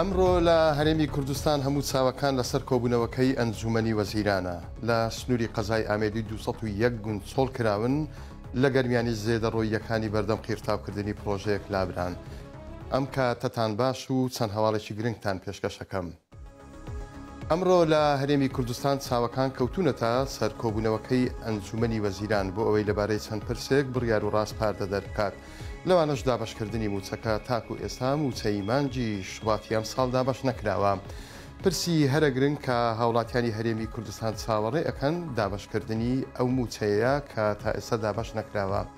ئەمڕۆ لە هەرێمی کوردستان هەموو چاوەکان لەسەر کۆبوونەوەکەی ئەنجوومەنی وەزیرانە لە سنووری قەزای ئامێدی 201 گوند چۆڵ کراون لە گەرمیانی زێدەڕۆییەکانی بەردەم قیرتاوکردنی پڕۆژەیەک لابران ئەم کاتەتان باش و چەند هەواڵێکی گرنگتان پێشکەشەکەم. ئەمڕۆ لە هەرێمی کوردستان چاوەکان کەوتوونەتە سەر کۆبوونەوەکەی ئەنجوومەنی وەزیران بۆ ئەوەی لەبارەی چەند پرسێک بڕیار و ڕاسپاردە دەربکات، لەوانەش دابەشکردنی مووچەکە، تاکو ئێستا مووچەی مانگی شوباتی ئەمساڵ دابەش نەکراوە، پرسی هەرە گرنگ کە هاوڵاتیانی هەرێمی کوردستان چاوەڕێ ئەکەن دابەشکردنی ئەو مووچەیەیە کە تا ئێستا دابەش نەکراوە.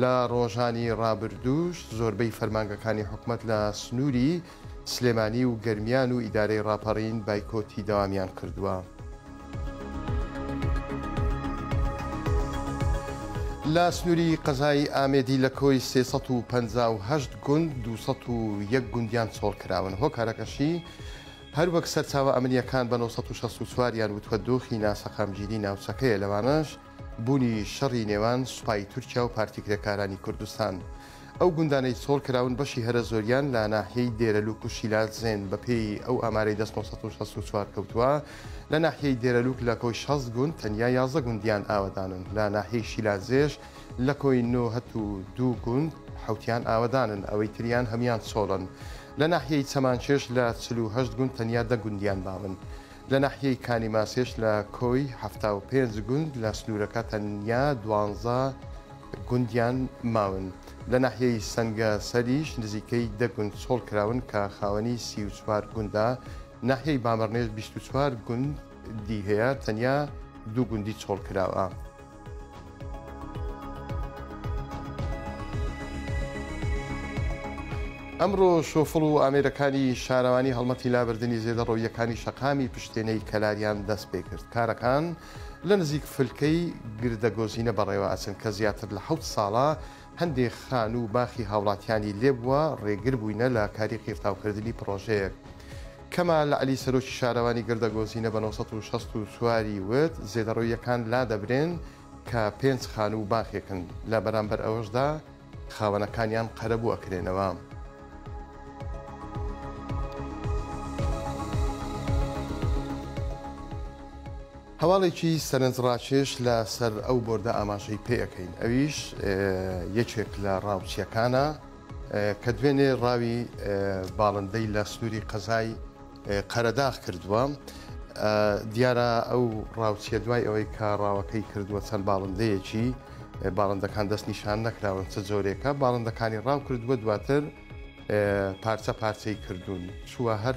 لە ڕۆژانی ڕابردووش زۆربەی فەرمانگەکانی حکومەت لە سنووری سلێمانی و گەرمیان و ئیدارەی ڕاپەڕین بایکۆتی دەوامیان کردووە. لە سنووری قەزای ئامێدی لە کۆی سێ سەد و پەنجا و هەشت گوند دوو سەد و یەک گوندیان چۆڵ کراون، هۆکارەکەشی هەروەک سەرچاوە ئەمنییەکان بە نۆ سەد و شەست و چوار یان وتووە دۆخی ناسەقامگیری ناوچەکەیە لەوانەش، بوونی شەڕی نێوان سوپای تورکیا و پارتی کرێکارانی کوردستان. ئەو گوندانەی چۆڵ کراون بەشی هەرە زۆریان لە ناحیەی دێرەلووک و شیلادزێن، بەپێی ئەو ئامارەی دەست نۆ سەد و شەست و چوار کەوتووە لە ناحیەی دێرەلووک لە کۆی شەست گوند تەنیا یازدە گوندیان ئاوەدانن، لە ناحیەی شیلادزێش لە کۆی نۆ هەت و دوو گوند حەوتیان ئاوەدانن ئەوەی تریان هەموویان چۆڵن، لە ناحیەی چەمانچێش لە چل و هەشت گوند تەنیا دە گوندیان باون. لە ناحیەی کانی ماسێش لە کۆی حەفتا و پێنج گوند لە سنوورەکە تەنیا دوانزە گوندیان ماون. لە ناحیەی سەنگە سەریش نزیکەی دە گوند چۆڵ کراون کە خاوەنی سی و چوار گوندە. ناحیەی بامەڕنێش بیست و چوار گوندی هەیە تەنیا دوو گوندی چۆڵ کراوە. ئەمڕۆ شۆفڵ و ئامێرەکانی شارەوانی هەڵمەتی لابردنی زێدەڕەوییەکانی شەقامی پشتێنەی کەلاریان دەست پێ کرد، کارەکان لە نزیک فلکەی گردەگۆزینە بەڕێوە ئەچن کە زیاتر لە حەوت ساڵە هەندێک خانوو و باخی هاوڵاتیانی لێ بووە، ڕێگر بووینە لە کاری قیرتاو کردنی پڕۆژەیەک. کەمال عەلی سەرۆکی شارەوانی گردە گۆزینە بە نۆ سەد و شەست و چوار ی وت، زێدەڕەوییەکان لادەبرێن کە پێنج خانوو و باخێکن، لە بەرامبەر ئەوەشدا خاوەنەکانیان قەرەبوو ئەکرێنەوە. هەواڵێکی سەرنجڕاکێش لە سەر ئەو بۆردە ئاماژەی پێ ئەکەین ئەویش یەکێک لە ڕاوچیەکانە کە دوێنێ ڕاوی باڵندەی لە سنوری قەزای قەرەداغ کردووە دیارە ئەو ڕاوچیە دوای ئەوەی کە ڕاوەکەی کردووە چەند باڵندەیەکی باڵندەکان دەست نیشان نەکراون چ جۆرێکە باڵندەکانی ڕاو کردووە دواتر پارچە پارچەی کردوون چووە هەر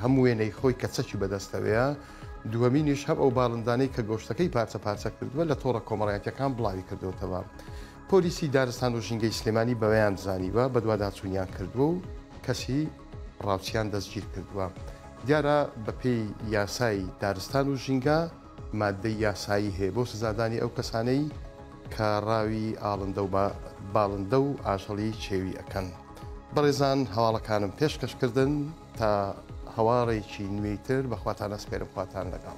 هەم وێنەی خۆی کە چەکی بەدەستەوەیە دووەمینیش هەم ئەو باڵندانەی کە گۆشتەکەی پارچە پارچە کردووە لە تۆڕە کۆمەڵایەتەکان بڵاوی کردوتەوە پۆلیسی دارستان و ژینگەی سلێمانی بەوەیان زانیوە بەدواداچوونیان کردووە و کەسی ڕاوچیان دەستگیر کردووە دیارە بەپێی یاسایی دارستان و ژینگە ماددەی یاسایی هەیە بۆ سزادانی ئەو کەسانەی کە ڕاوی ئاڵندە و باڵندە و ئاژەڵی چێوی ئەکەن. بەڕێزان هەواڵەکانم پێشکەش کردن تا هەواڵێکی نوێی تر بەخواتان ئەسپێرم خواتان لەگەڵ.